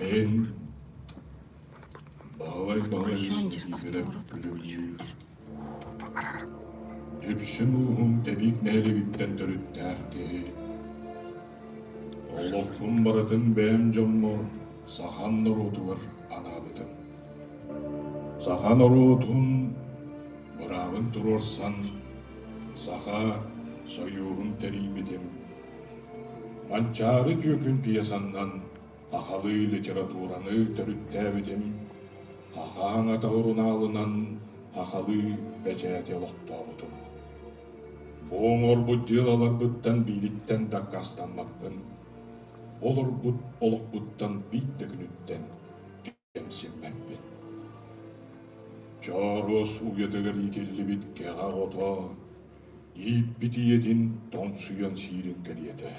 Эн Баһылай Баһылай күлүмнүүр Үксүн ууһум тэбиит нэһилигиттэн төрүттээх киһи Олохпун барытын бэйэм дьоммор сахам норуотугар анаабытым Саха норуотун быраабын туруорсан Саха Союһун тэрийбитим. Манчаары түөкүн пьесанан сахалыы литератураны төрүттээбитим, Саха аҥата сурунаалынан сахалыы бэчээти олохтообутум. Бу оҥорбут дьыалаларбыттан биилиттэн дакаастаммаппын. Олорбут олохпуттан биир да күнүттэн кэнсиэрбэппин Чооруос уйатыгар иитиллибит кэҕэ ото ииппит ийэтин тоҥсуйан сиирин кэриэтэ.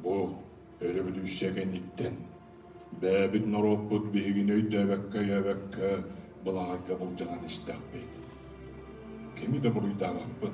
Бу өрөбөлүүссүйэ кэнниттэн бэйэбит норуоппут биһигини өйдөөбөккө-өйөөбөккө былаҥарга былдьанан истэхпит. Кими да буруйдаабаппын.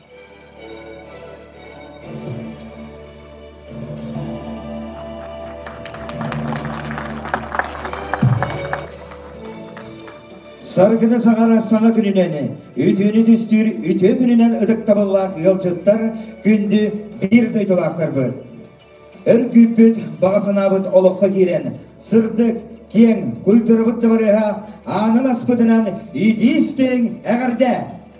Саргына саҕара саҥа күнүнэн, үтүөнү түстүүр үтүө күнүнэн ытыктабыллаах ыалдьыттар күндү биир дойдулаахтарбыт. Өр күүппүт, баҕа санаабыт олоххо киирэн, сырдык, киэҥ культурабыт дабарыаха аанын аспытынан итии истиҥ эҕэрдэ!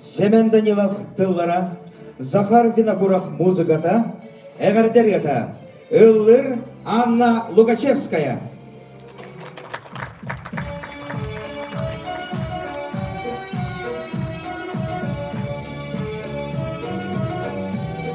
Семен Данилов тыллара, Захар Винокуров музыката, эҕэрдэ ырыата ыллыр Анна Лукачевская.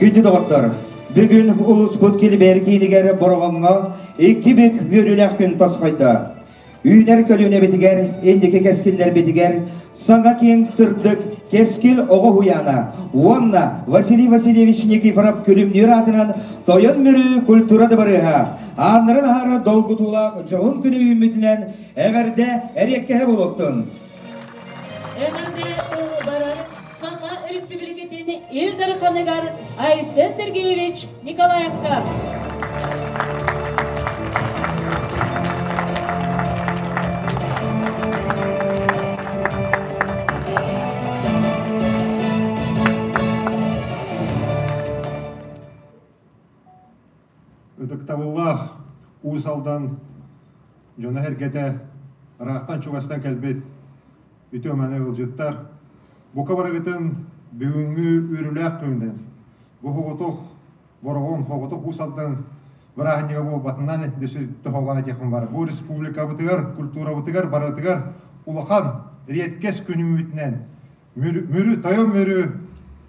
Күндү доҕоттор, бүгүн улууспут Килбэр киинигэр Бороҕоҥҥо икки бүк үөрүүлээх күн тосхойдо. Үүнэр көлүөнэбитигэр, инники кэскиллэрбитигэр саҥа киэҥ сырдык кэскил оҕо уһуйаана уонна Василий Васильевич Никифоров күлүмнүүр аатынан Тойон Мүрү культура дыбарыаһа ааннарын аһар долгутуулаах дьоһун күнэ үүммүтүнэн эҕэрдэ эриэккэһэ буолуохтун. Өлөрбү барар Саха Өрөспүүбүлүкэтин Ил Дарханыгар Айсен Сергеевич Николаевка, ытыктабыллаах Уус Алдан дьоно-сэргэтэ, ыраахтан-чугастан кэлбит үтүө-маны ыалдьыттар, бука барыгытын бүгүҥҥү үөрүүлээх күнүнэн Боһоҕотох, Бороҕон, Хоботох Уус Алдан бырааһынньыга буолбатынан дьиҥ этиэхпин бары бу республикабытыгар, культурабытыгар барытыгар улахан, редкэс күнүммүтүнэн Мүрү, тойон мүрү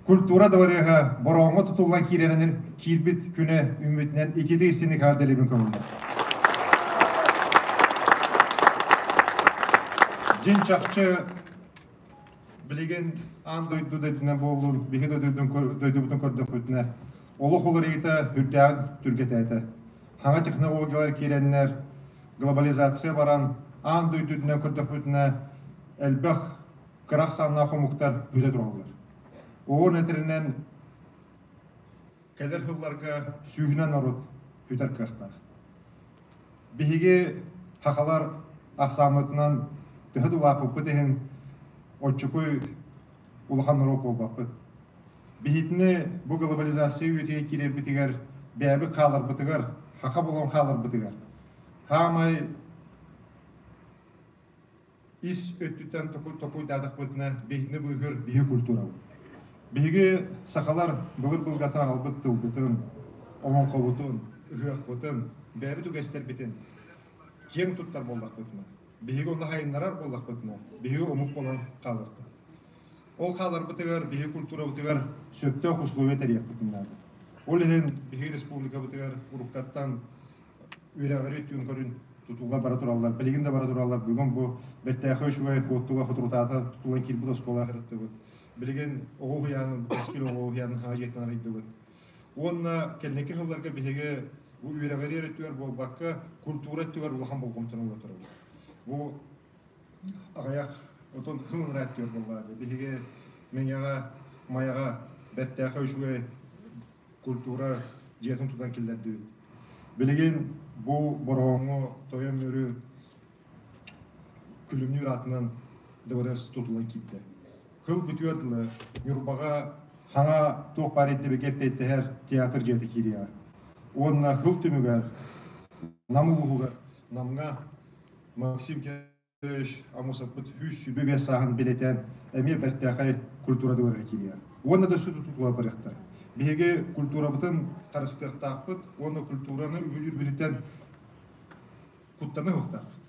культура дворега бороҥҥо тутуллан киирэрин киирбит күнэ үмүтүнэн ититии сини хаардэлибин көҥүллэр. Дьин чахчы билигин аан дойду дойдутунан буоллун, биһи дойдубутун көрдөхпүтүнэ, олох уларыйыта үрдээн түргэтээтэ. Хаҥа технологиялар киирэннэр, глобализация баран, аан дойдутунан көрдөхпүтүнэ, элбэх кырах саннаах омуктар бүтэ тураллар. Оон этиринен кедер хылларга сүүһүнэн орут бүтер кыахтаах. Биһиги хахалар ахсааммытынан төһө дулааппыппыт иһин отчукуй улахан норуот буолбаппыт. Биһитини бу глобализация үөтүйэ киирэрбитигэр бэйэбит хааларбытыгар, хаха болон хааларбытыгар. Хаамай ис өттүттэн токуйдаатахпытына биһигини быыһыыр биһиги культурабыт. Биһиги сахалар былыт былгатан аҕалбыт тылбытын, олоҥхобутун, ыһыахпытын, бэйэбит үгэстэрбитин киэҥ туттар буоллахпытына, биһиги онно хайыннарар буоллахпытына, биһиги омук буолан хаалыахпыт. Ол хааларбытыгар биһиги культурабытыгар сөптөөх условия тэрийиэхпитин наада. Ол иһин биһиги республикабытыгар уруккаттан үөрэҕири түүн көрүн тутууга бара тураллар билигин да бара тураллар бүгүн бу бэртээхэй үчүгэй хуоттуга хутрутаата тутулан киирбит оскуола харыттыбыт билигин оҕо уһуйаанын кэскил оҕо уһуйаанын аҕа дьиэтинэн арыйдыбыт уонна кэнники сылларга биһиги бу үөрэҕири өрүттүгэр буолбакка культура өттүгэр улахан болҕомтону ууртарабыт бу аҕыйах отон ылынара өттүгэр буоллаа биһиги мэҥэҕэ майаҕа бэртээхэй үчүгэй культура дьиэтин тутан киллэрдибит. Билигин бу Бороҕоҥҥо тойон мүрү күлүмнүүр аатынан ДВРС тутулан киирдэ. Хыл бүтүөр дылы Ньурбаҕа хаҥа туох баар ирдэбигэ петтэһэр театр дьиэтэ киириэҕэ. Уонна хыл түмүгэр Нам улууһугар Намҥа Максим Амусаппыт үс сүбэ сааһын билетэн эмиэ бэртээхэй культурадылар этиилэр. Уонна да сүдү тутула барыахтар. Биһиги культурабытын харыстыахтаахпыт уонна культураны үрдүтэн куттана уһуктаахпыт.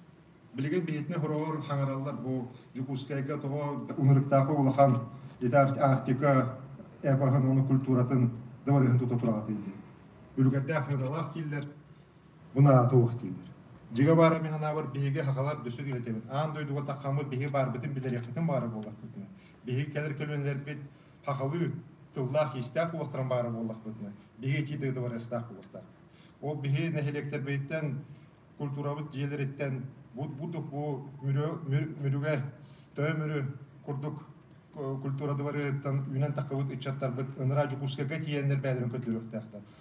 Билигин биһитини хороҕор хаҥараллар бу Дьокуускайга тоҕо унырыктаахы улахан ити Арктика эпоһын, оны культуратын дабарыһын тута тураҕатыйы. Үлгэрдээх феодалаах дииллэр, Бу наада туох дииллэр. Дьиҥэ баара мин анаабар биһиги сахалар дөсүк үлэтэбит. Аан дойдуга таххаммыт биһиги баарбытын билиэхпитин баара буоллахпытына, биһиги кэлэр көлүөнэлэрбит сахалыы тыллаах-иистээх уоллахтаран баара буоллахпытына, биһи итии дойду барыастаах буолуохтаахпыт. Ол биһи нэһилиэктэрбиттэн, культурабыт дьиэлэриттэн бу бутук бу мүрүгэ тойо мүрү курдук культурадыбарыттан үүнэн таххыбыт ыччаттарбыт ыныраа Дьокуускайга тиийэннэр бэйэлэрин көрдөрүөхтээхтэр.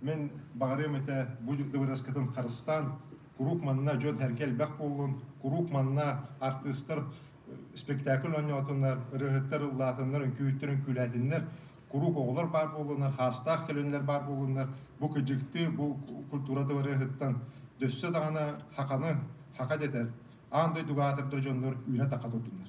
Мин баҕарыам этэ бу дыбарыаскатын харыстаан, куруук манна дьон-сэргэ элбэх буоллун, куруук манна артыыстар спектакль оонньоотуннар, ырыаһыттар ыллаатыннар, үҥкүүһүттэр үҥкүүлээтиннэр, куруук оҕолор баар буоллуннар, хаастаах көлөннөр баар буоллуннар, бу кыдьыкты, бу культура дыбарыаһыттан дөссө даҕаны хаканы, хака дэтэр, аан дойдуга аатырдар дьоннор үүнэ-такка турдуннар.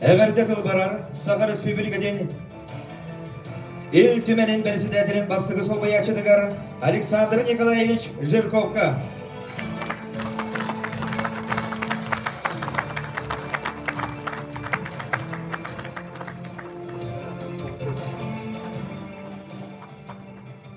Эверде кылбарар Саха Республикатын Ил Түмэнин председателин бастыгы солбуйааччытыгар Александр Николаевич Жирковка.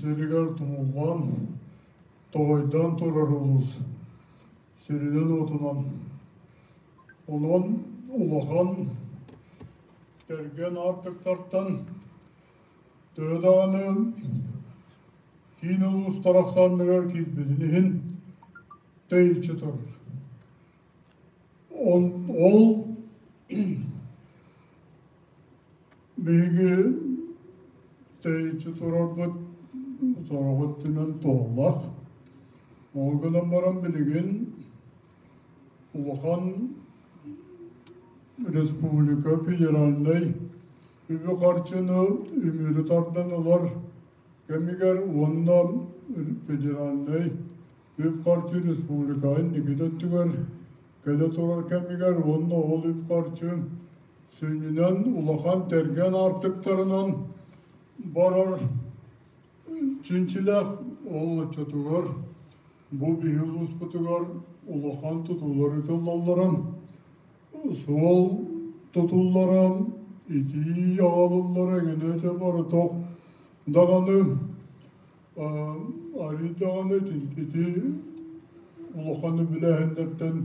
сиригэр тумуллан, тоҕойдоон турар улуус сиринэн-уотунан онон улахан тэргэн аартыктартан төһө даҕаны киин улуус тарахсаанныгар киирбитин иһин тэйиччи турар ол Биһиги тэйиччи турарбыт сороҕут түнэн туоллах. Ол гынан баран билигин улахан республика федеральнай үбү-харчыны үмүрү тардан ылар кэмигэр уонна федеральнай үп-харчы республика инникитэ өттүгэр Кэлэ турар кэмигэр уонна ол үп харчын сүнньүнэн улахан тэргэн аартыктарынан барар чинчилэх ол отчетугар бу биһи улууспутугар улахан тутуулар ытыллалларын суол тутуллара итии аҕалыллара эҥинэ этэ барытох даҕаны Арыы даҕаны итинкити улаханы билээһиннэртэн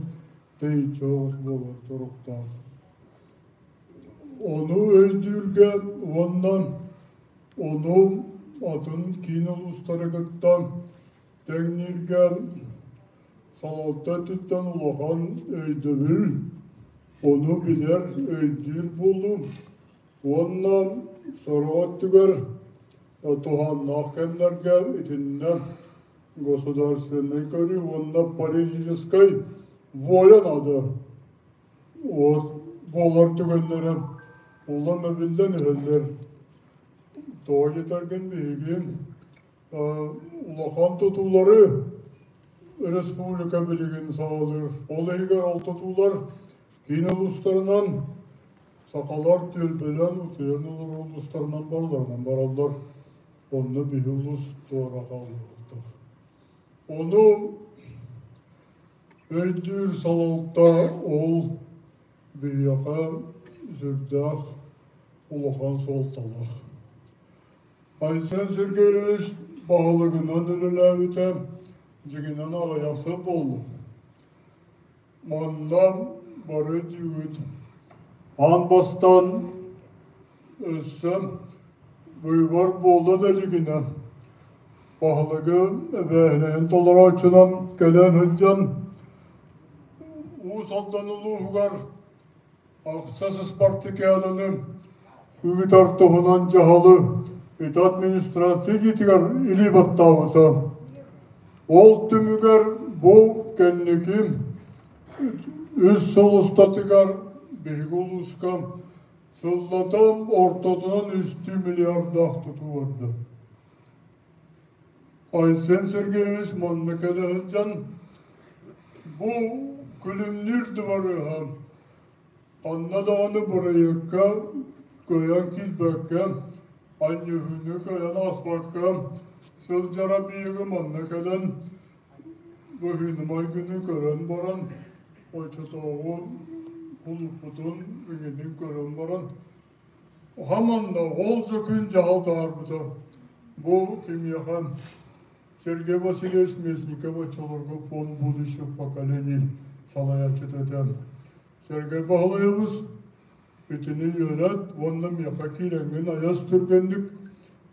тэйиччи оҕус буолар туруктаах. Ону өйдүүргэ уонна ону атын киин улуустары кытта тэҥнииргэ салалта өттүттэн улахан өйдөбүл, ону билэр, өйдүүр буолуум. Уонна сорох өттүгэр туһааннаах кэмнэргэ итиннэ государственнай көрүү уонна политическай воля наада вот буолар түгэннэрэ улам эбиллэн иһэллэр тоҕо диэтэргин биһиги улахан тутуулары өрөспүүбүлүкэ билигин саҕалыыр. Ол иһигэр ол тутуулар киин улуустарынан, сахалар түөлбөлөн, утуйан олорор улуустарынан барыларынан бараллар. Онно биһи улус туора хаалыылтар. Ону өйдүүр салалта ол биһиэхэ сүрдээх улахан суолталаах. Айсен Сергеевич баһылыгынан үлэлээбитэ дьиҥинэн аҕыйахсыт буолла. Манна бары диибит аан бастаан өссө быыбар буолла да дьигинэ баһылыгы эбээһинэһин толорооччунан кэлэн сылдьан Уус Алдан улууһугар Ахсыс спартакиаданы ыытар туһунан дьаһалы ити администрация идитигэр илии баттаабыта. Ол түмүгэр бу кэнники үс сыл устатыгар биһиги улууска сыллатан ортотунан үстүү миллиардаах тутуу барда. Айсен Сергеевич манна кэлэ сылдьан бу күлүмнүүр дыбарыаһа ханна даҕаны бырайыакка кыайан киирбэккэ анньыһыыны кыайан ааспакка сылдьара биһиги манна кэлэн быһыынымайгыны көрөн баран оччотооҕу кулуппутун иҥинин көрөн баран Уһа манна ол сөкүн дьаһалта аарбыта бу кимиэхэн Сергей Васильевич Местников оччолорго фонд будущих поколений салайааччыта этэ. Сергей Баһылайабыс итини үөрэт уонна миэхэ киирэҥҥин айас түргэнник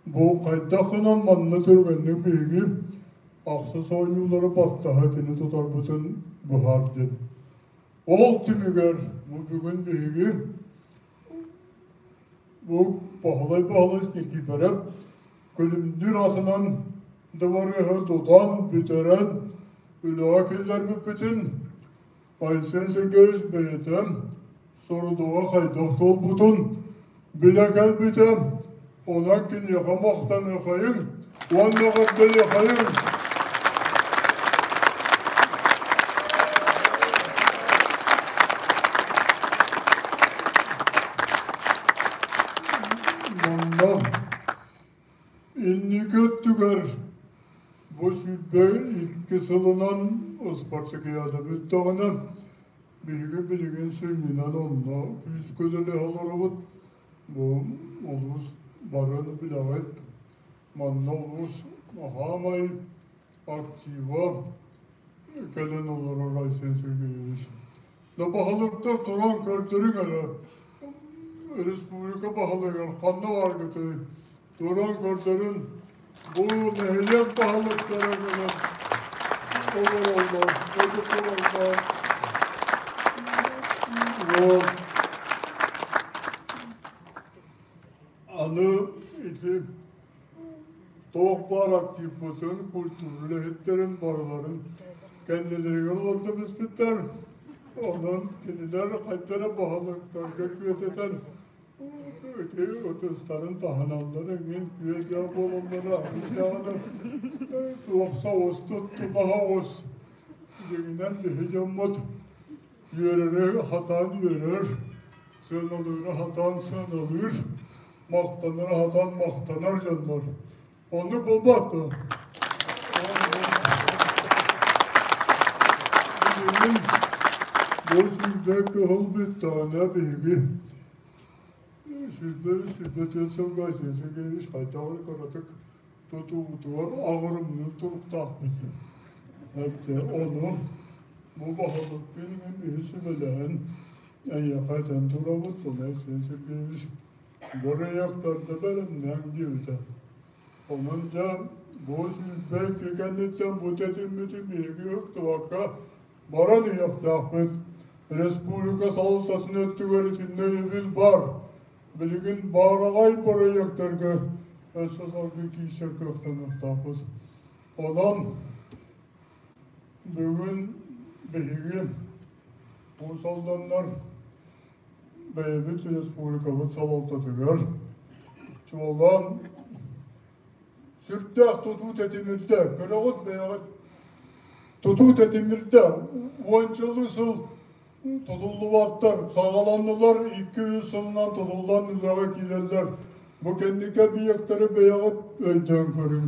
бу хайдах гынан манна түргэнник биһиги ахсыс оонньуулары бастаһа итини тутарбытын быһаардын. Ол түмүгэр бу бүгүн биһиги Бу Баһылай-Баһылай Никифоров күлүмнүүр атынан дыбарыаһы тутан, бүтэрэн үлэҕэ киллэрбиппитин Айсен Сергеевич бэйэтэ сорудаҕа хайдах туолбутун билэ кэлбитэ, Онон киниэхэ махтаныахайым уонна эҕэрдэлиэхайим! Манна инники өттүгэр бу сүүрбэ икки сылынан ыспартакиада бүттэҕинэ биһиги билигин сүнньүнэн онно күүскэ үлэлэһэ олоробут улуус барын билэҕит. Манна улуус хаамай актива кэлэн олорор Айсен Сергеевич. Да баһылыктар туран көрдөрүҥ эрэ, республика баһылыгар ханна баргытый, туран көрдөрөн бу нэһилиэк баһылыктара гынан олороллор, өтө тураллар. Вот. Аны ити туох баар активпытын, культура үлэһиттэрин барыларын кэннилэригэр олордо биспиттэр. Онон кинилэр хайдара баһылыктарга күөтэтэн Бүтэй ытыстарын таһыналлар эҥин күө-дьаа буолаллара даҕаны туохса оҕус туттубаха оҕус дьиҥинэн биһи дьоммут үөрэрэ хатаан үөрэр сыаналыыра хатаан сыаналыыр махтанара хатаан махтанар дьоннор Ону булбатко. Билигин бу сүүрбэ кыһыл бүттөҕүнэ биһиги сүүрбэ сүүрбэ төрт сылга сесиге үс хайдагы кыратык тутуутугар агырымны туруктаахпыт. Эппи ону бу баһылыктын үһү сүбэлэһэн эйэхэ этэн турабыт, тула сесиге үс Буруйахтарга бэлэмнэҥ диэбитэ. Онон дьэ бу сүүрбэ икки кэнниттэн бу тэтиммитин биһиги ықтыбакка баран иһиэхтээхпит. Республика салалтатын өттүгэр итиннэ өйөбүл бар. Билигин баараҕай бырайыактарга өссө салгыы киирсэр кыахтаныахтаахпыт. Онон бүгүн биһиги бу салданнар бэйэбит республикабыт салалтатыгар чуолаан сүрдээх тутуу тэтимирдэ. Көрөҕүт бэйэҕит тутуу тэтимирдэ. Уончалыы сыл тутуллубаттар, саҕаланнылар, икки үс сылынан тутуллан үлэҕэ киирэллэр. Бу кэнники объектары бэйэҕит өйдөөн көрүҥ.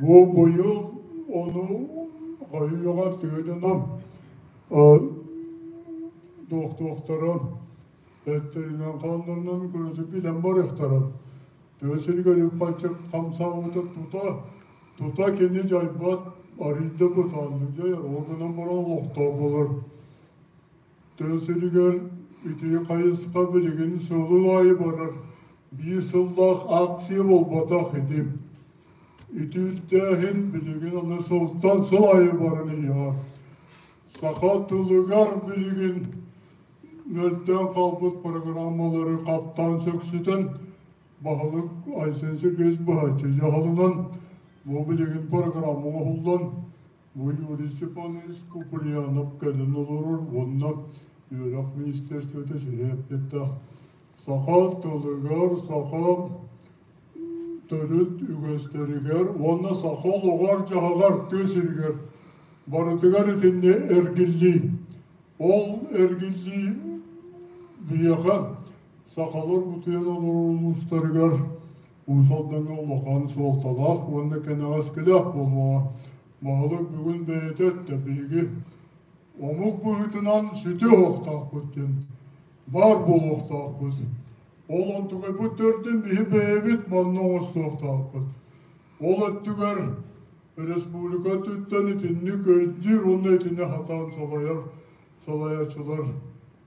Буобуйум ону хойуоҕа тыынынан туохтуохтаран эттэринэн хааннарынан көрөтө билэн барыахтарын тыа сиригэр үп-харчы хамсаабытын тута тута кини дьайбат арыйда бытааннык дьайар ол гынан баран олохтоох болор тыа сиригэр ити хайысха билигин сыл аайы барар биир сыллаах ааксыйа буолбатах ити. Ити үрдээһин билигин аны сылтан сыл аайы баран иһэр. Саха тылыгар билигин мөлтөөн хаалбыт программалары хаптаан сөксүтэн баһылык Айсен Сергеевич быһаччы дьаһалынан бу билигин программа оҥоһуллан Муниципалист Куприянов кэлин олорор уонна үөрэх министерствота сүрэ эппиттээх саха тылыгар, саха төрүт үгэстэригэр уонна саха олоҕор-дьаһаҕар тыа сиригэр барытыгар итиннэ эргиллии. Ол эргиллии биһиэхэ сахалар бутуйан олорор улуустарыгар Уус Алдаҥҥа улахан суолталаах уонна кэнэҕэскилээх буолуоҕа. Баһылык бүгүн бэйэтэ өттө биһиги омук быһыытынан сүтүө оһохтоохпут диэн баар буолуохтаахпыт. Ол онтугайбыт төрдүн биһи бэйэбит манна оҥостуохтаахпыт. Ол өттүгэр республика өттүттэн итинник өйдүүр уонна итини хатаан салайар салайааччылар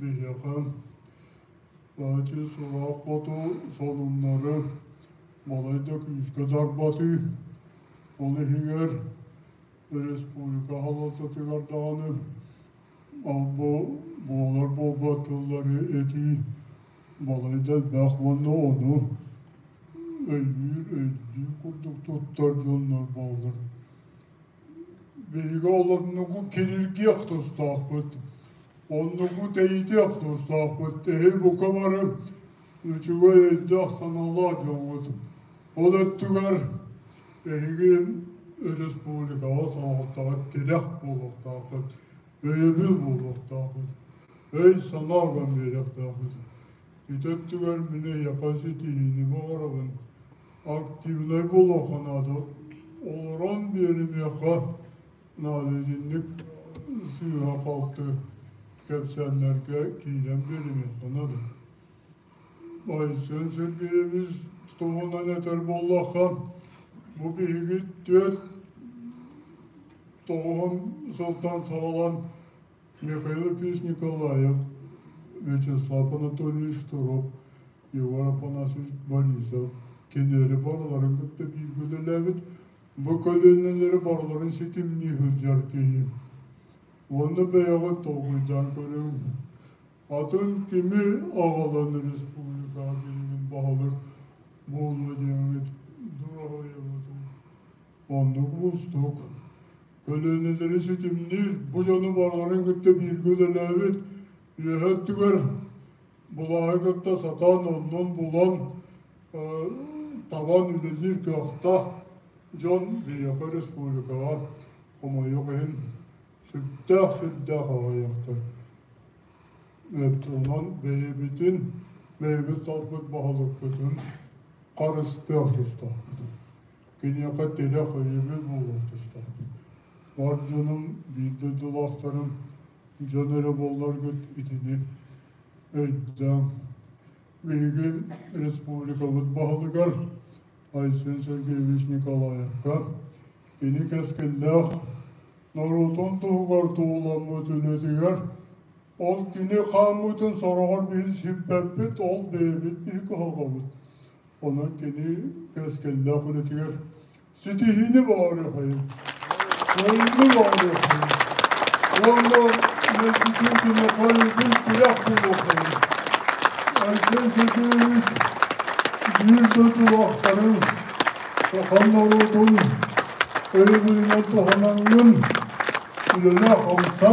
Биһиэхэ эти сылаах хоту сонуннары балайда күүскэ тарбатыы, ол иһигэр республика аһалалтатыгар даҕаны буолар буолбат тыллары этии балайда элбэх уонна ону өйдүүр өйдүү курдук туттар дьоннор бааллар. Биһиги олоннугу кинилгиэх тустаахпыт. Оннугу тэйитиэх тустаахпыт. Тэһи бука бары үчүгэй өйдөөх санаалаах дьоҥҥут. Ол өттүгэр эһиги республикаҕа салалтаҕа тирэх буолуохтааххыт, өйөбүл буолуохтааххыт, өй-санаа уган биэриэхтээххит. Ити өттүгэр мин эйиэхэ ситиһиини баҕарабын. активнай болоохонаады олорон биэримиэхэ наадатыннык сыыһа халты кэпсээннэргэ киирэн биэримиэхэ наада Айсен Сергеевич туһунан этэр буоллахха бу биһиги түөрт тоҕуһун сылтан саҕалан Михаил Ильич Николаев, Вячеслав Анатольевич Шторов, Егор Афанасьевич Борисов кинилэри барыларын кытта бииргэ үлэлээбит, бу көлүөнэлэри барыларын ситимнии сылдьар киһи. Уонна бэйэҕит толкуйдаан көрүҥ. Атын кими аҕалан республикаҕа билигин баһылык буолуо диэҥҥит дураһыйабытын Оннук уустук. Көлүөнэлэри ситимниир, бу дьону барыларын кытта бииргэ үлэлээбит үөһэ өттүгэр булааһы кытта сатаан оннун булан табан үлэлиир кыахтаах дьон биһиэхэ республикаҕа хомойуох иһин сүрдээх сүрдээх аҕайахтар. Онон бэйэбитин, бэйэбит талбыт баһылыкпытын харыстыах тустаахпытын. Киниэхэ тилэх өйүгүн буолуон туста. Бар дьонум, биир дойдулаахтарым дьон эрэ буолларгыт итини өйдөөн. Биһигин республикабыт баһылыгар Айсен Сергеевич Николаевка кини кэскиллээх норуотун туһугар туһуламмыт үлэтигэр Ол кини хааммытын сороҕор биһи сиппэппит, ол бэйэбит биһи кыһалҕабыт. Онон кини кэскиллээх үлэтигэр ситиһиини баҕарыа хайын, көрүннү баҕарыа хайын. Уонна мэлдьитин кини хайытын тирэх буолуо хайын. Антон Сергеевич биир дойду улаахтарын, сахан норуотун өйөбүлүнэн туһанаҥҥын үлэлээх омса,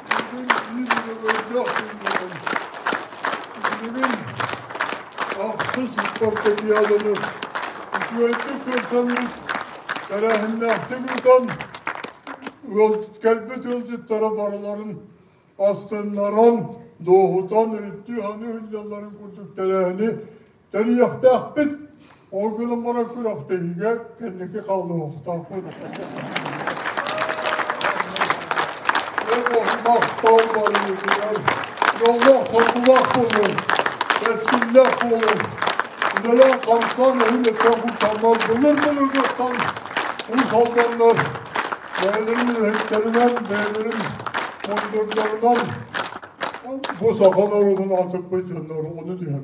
Бүгүн ахсыс спартакиаданы үчүгэйдик көрсөммүт тэрээһиннээхтик утан кэлбит ыалдьыттара барыларын астыннаран, дуоһутан, үттүү-аны ыһыллалларын курдук тэрээһини Тэрийиэхтээхпит. Ол гынан баран күрэхтэһиигэ кэнники хаалыахтаахпыт. Махтал барыытыгар дьоллоох сокулаах буолуон, кэскиллээх буолуон, үлэлээн харыстаан эһилиттэн куттаннар былыр-былыргыттан ус-алданнар бэйэлэрин үлэһиттэринэн, бэйэлэрин мундурдарынан бу сахан орудун атыкпыт дьоннор ону түһэн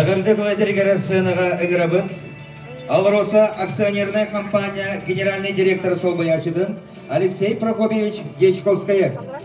Эҕирдэ көҕөтэригэр сценаҕа ыгырабыт. АЛРОСА акционерная компания генеральный директор собоячытын Алексей Прокопьевич Дьячковская.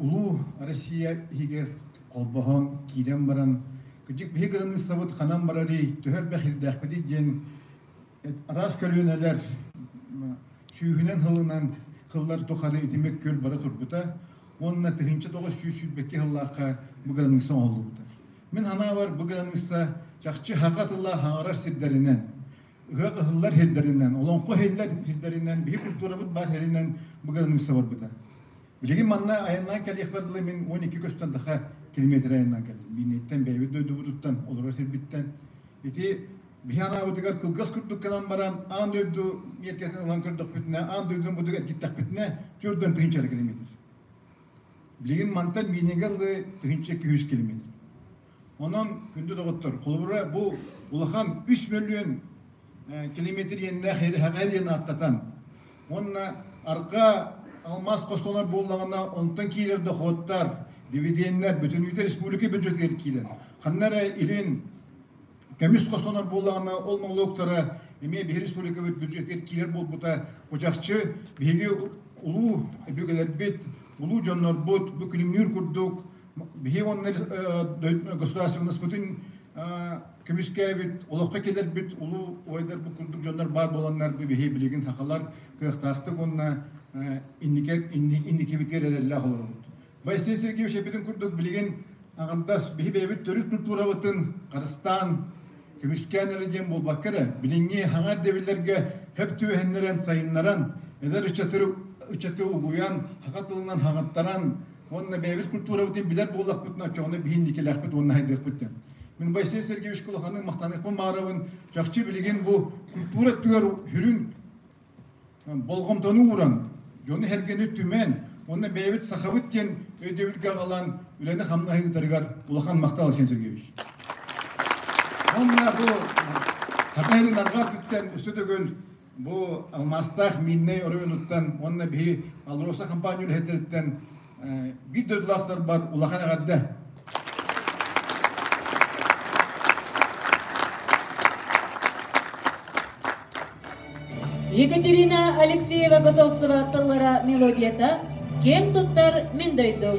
улуу Россия иһигэр холбоһон киирэн баран кырдьык биһи граниссабыт ханан барарый төһө эрбэхирдээхпитий диэн араас көлүөнэлэр сүүһүнэн хылынан кыллар тухары итимик күл бара турбута уонна тыһыынча тоҕус сүүс сүүрбэкки сыллаахха бу граниса оҥоһуллубута мин санаабар бу граниса чахчы хака тыла хаҥарар сирдэринэн ыһыах ыһыллар сирдэринэн, олоҥхо сирдэр сирдэринэн, биһи культурабыт баар сиринэн быгырыныысса барбыта. Билигин манна айаннаан кэлиэхпэр дылы мин 12 көстөн даха километр айаннаан кэллим. Биинэйттэн, бэйэбит дойдубутуттан, олорор сирбиттэн. Ити биһи анаабытыгар кылгас курдук гынан баран, аан дойду миэркэтин ылан көрдөхпүтүнэ, аан дойдуну будук эргиттэхпитинэ, төрдөн тыһыынча километр. Билигин мантан Биинэгэ дылы тыһыынча күүс километр. Онон күндү доҕоттор, холобура, бу улахан үс мөлүйүөн километр иэннээх эҕэр иэн ааттатан уонна арҕаа алмаас хостонор буоллаҕына, онтон киирэр дохуоттар, дивиденнэр бүтүнүүтэ республика бюджетыгар киирэн, ханна эрэ илин көмүс хостонор буоллаҕына, ол молуоктара эмиэ биһир республикабыт бюджетигэр киирэр буолбута бучахчы биһиги улуу өбүгэлэрбит, улуу дьоннорбут бу күлүмнүүр курдук Биһи уонна государственнаспытын көмүскээбит, олоххо кэлэрбит улуу ойдарбыт курдук дьоннор баар буоланнар бу биһи билигин сахалар кыахтаахтык уонна инникибитигэр эрэллээх олоробут. Василий Сергеевич эпитин курдук билигин аҕардас биһи бэйэбит төрүт культурабытын харыстаан көмүскээн эрэ диэн буолбакка эрэ билиҥҥи хаҥар дэбиллэргэ хөп түөһэннэрэн сайыннаран эдэр ыччаты ыччаты угуйан хаха тылынан хаҥаттаран Уонна бэйэбит культурабытын билэр буоллахпытына, оччоҕуна биһин дикилээхпит уонна хайдыахпыт Мин Василий Сергеевич кулаханык махтаныахпын маарабын. Чахчы билигин бу культура төр сүрүн болҕомтону ууран, дьону сэргэни түмэн, уонна бэйэбит сахабыт диэн өйдөбүлгэ аҕалан үлэни хамнаһы ыытарыгар улахан махтал Василий Сергеевич. Уонна бу Хатайылын арҕаа өттүттэн өссө төгүл бу алмаастаах Миирнэй оройуонуттан уонна биһи АЛРОСА хампаанньа үлэһиттэриттэн биир дойдулаахтарбар улахан эҕэрдэ. Екатерина Алексеева-Готовцева тыллара мелодията киэн туттар мин дойдум.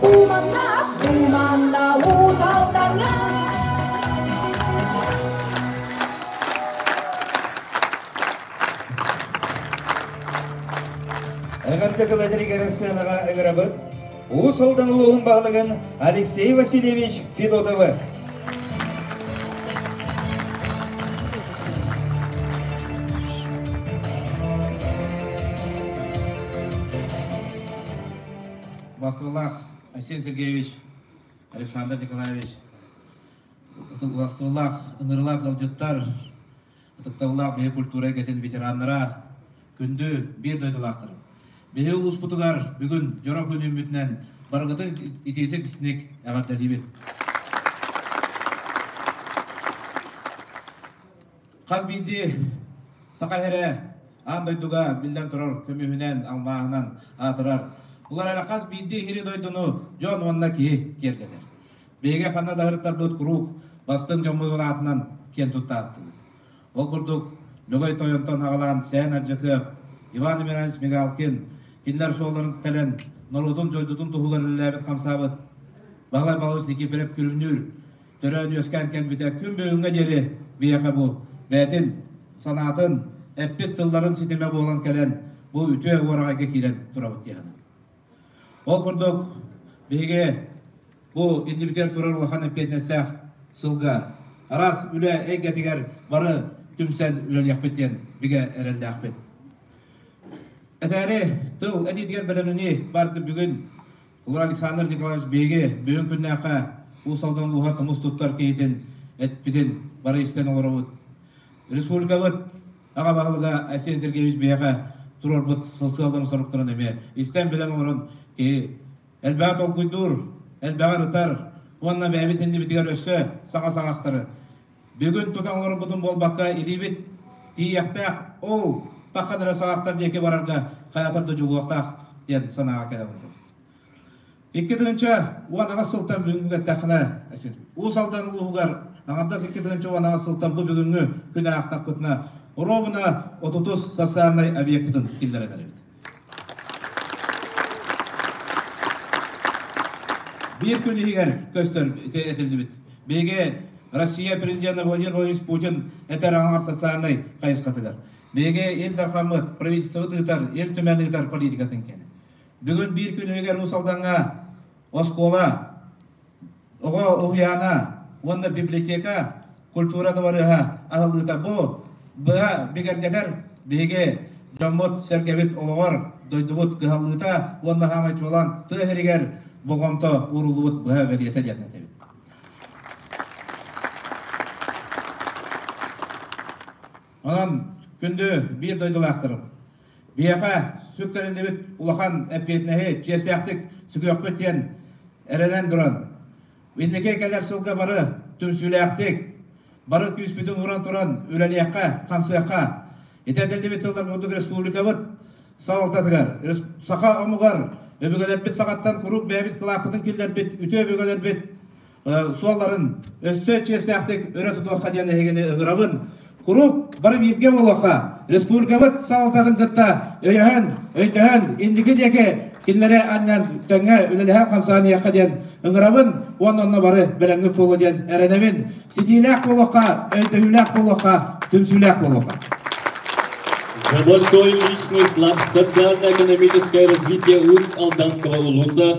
Думаннап, думанна ууталтарга Эҕэрдэ тылларыгар сыанаҕа ыҥырабыт Уус Алдан улууһун баһылыгын Алексей Васильевич Федотовы. Вакылах Айсен Сергеевич, Александр Николаевич, ытык ынырылаах ыалдьыттар, ытыктабыллаах биһи культура эйгэтин ветераннара, күндү биир дойдулаахтарым. Биһи улууспутугар бүгүн дьоро күн үүммүтүнэн барыгытын итиитик истиник эҕэрдэлиибин. Хас биирдии саха эрэ аан дойдуга, биллэн турар, көмүһүнэн, алмааһынан аатырар. Улар эрэ хас биирдии иһири дойдуну дьон уонна киһи киэргэтэр. Биһиги ханна да сырыттарбыт куруук бастыҥ дьоммутун аатынан киэн туттаабытыбыт. Ол курдук, Лөгөй Тойонтон аҕалаан Сээн Ардьакыап, Иван Эмерович Мигалкин кинилэр суолларын тэлэн норуотун дойдутун туһугар үлэлээбит хамсаабыт Баһылай Балыыс Никифоров күлүмнүүр төрөөн үөскээн кэлбитэ күн бүгүҥҥэ диэри биһиэхэ бу бэйэтин санаатын, эппит тылларын ситимэ буолан кэлэн бу үтүө уораҕайга киирэн турабыт дии Ол курдук биһиги бу иннибитигэр турар улахан эппиэтинэстээх сылга араас үлэ эйгэтигэр бары түмсэн үлэлиэхпит диэн бигэ эрэллээхпит. Этээри тыл эниитигэр бэлэмнэнии барды бүгүн Улар Александр Николаевич биһиги бүгүн күннээхэ Уус Алдан ууһа тумус туттар киһитин эппитин бары истэн олоробут. Республикабыт аҕа баһылыга Айсен Сергеевич биһиэхэ туруорбут сосыаларын соруктарын эмиэ истэн билэн олорон киһи элбэҕи толкуйдуур, элбэҕи ырытар уонна бэйэбит иннибитигэр өссө саҥа саҥахтары Бүгүн тута оҥорбутум буолбакка илиибит тиийиэхтээх, оо, тахха да саҕахтар диэки барарга хайатар да дьулуохтаах диэн санааҕа кэлэбин. Икки тыһыынча уон аҕыс сылтан бүгүҥҥү эттэххинэ, Уус Алдан улууһугар аҥардас икки тыһыынча уон аҕыс сылтан бу бүгүҥҥү күн аахтахпытына, оруобуна отутус социальнай объекпытын киллэрэн эрэбит. Биир күн иһигэр көстөр этилибит. Биһиги Россия президенэ Владимир Владимирович Путин этэр аҥар социальнай хайысхатыгар. Биһиги Ил Дархаммыт правительствобыт ыытар, Ил Түмэн ыытар политикатын кэнэ. Бүгүн биир күн иһигэр Уус Алдаҥҥа оскуола Оҕо уһуйаана уонна библиотека культура дыбарыаһа аһыллыыта бу быһа бигэргэтэр биһиги дьоммут-сэргэбит олоҕор дойдубут кыһаллыыта уонна саамай чуолаан тыа иһигэр болҕомто ууруллубут быһа бэлиэтэ диэн этэбит. Онон күндү биир дойдулаахтарым, Биэхэ сүк тэриллибит улахан эппиэтинэһи чиэстээхтик сүгүөхпүт диэн эрэнэн туран, инники кэлэр сылга бары түмсүүлээхтик, бары күүспүтүн ууран туран үлэлиэххэ, хамсыахха. Ити этиллибит тыллар курдук республикабыт салалтатыгар, саха омугар өбүгэлэрбит саҕаттан куруук бэйэбит кылааппытын киллэрбит үтүө өбүгэлэрбит суолларын өссө чиэстээхтик өрө тутуохха диэн эһигини ыҥырабын. Куруук бары бииргэ буолуохха, республикабыт салалтатын кытта өйөһөн, өйдөһөн, инники диэки кинилэри анньан тэҥҥэ үлэлэһэ хамсаныахха диэн ыҥырабын уонна онно бары бэлэмҥит буолуо диэн эрэнэбин. Ситиилээх буолуохха, өйдөһүүлээх буолуохха, түмсүүлээх буолуохха. За большой личный вклад в социально-экономическое развитие уст Алданского улуса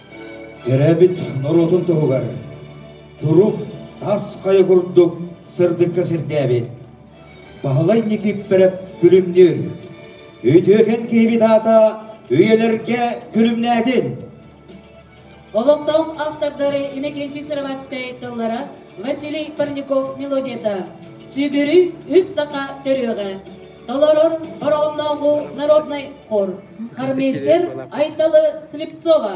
Төрөөбүт норуотун туһугар турук тас хайа курдук сырдыкка сирдээбит Баһылай Никиппэрэп күлүмнүүр үтүөкэн киһибит аата үйэлэргэ күлүмнээтин олохтоох автордары Иннокентий Сыроватскай тыллара Василий Парников мелодията сүгүрүй үс саха төрүөҕэ Толорор Ороомнооҕу народнай хор хармейстер Айталы Слепцова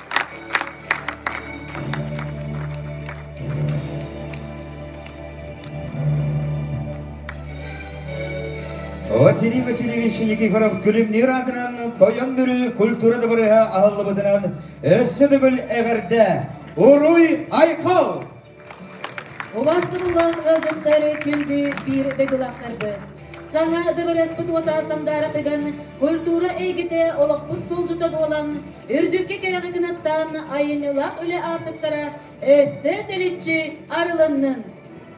Василий Васильевич Никифоров күлүмнүүр аатынан тойон бүрү культура дабырыһа аһыллыбытынан өссө төгүл эҕэрдэ. Уруй, айқал! Улаастырыллан ыалдьыттары күндү биир дойдулаахтарбыт, саҥа дыбарыаспыт уота сандааратыган культура эйгэтэ олохпут сулдьута буолан, үрдүккэ кэрэҕи гынаттаан айымньылаах үлэ аартыктара өссө тэличчи арылыннын!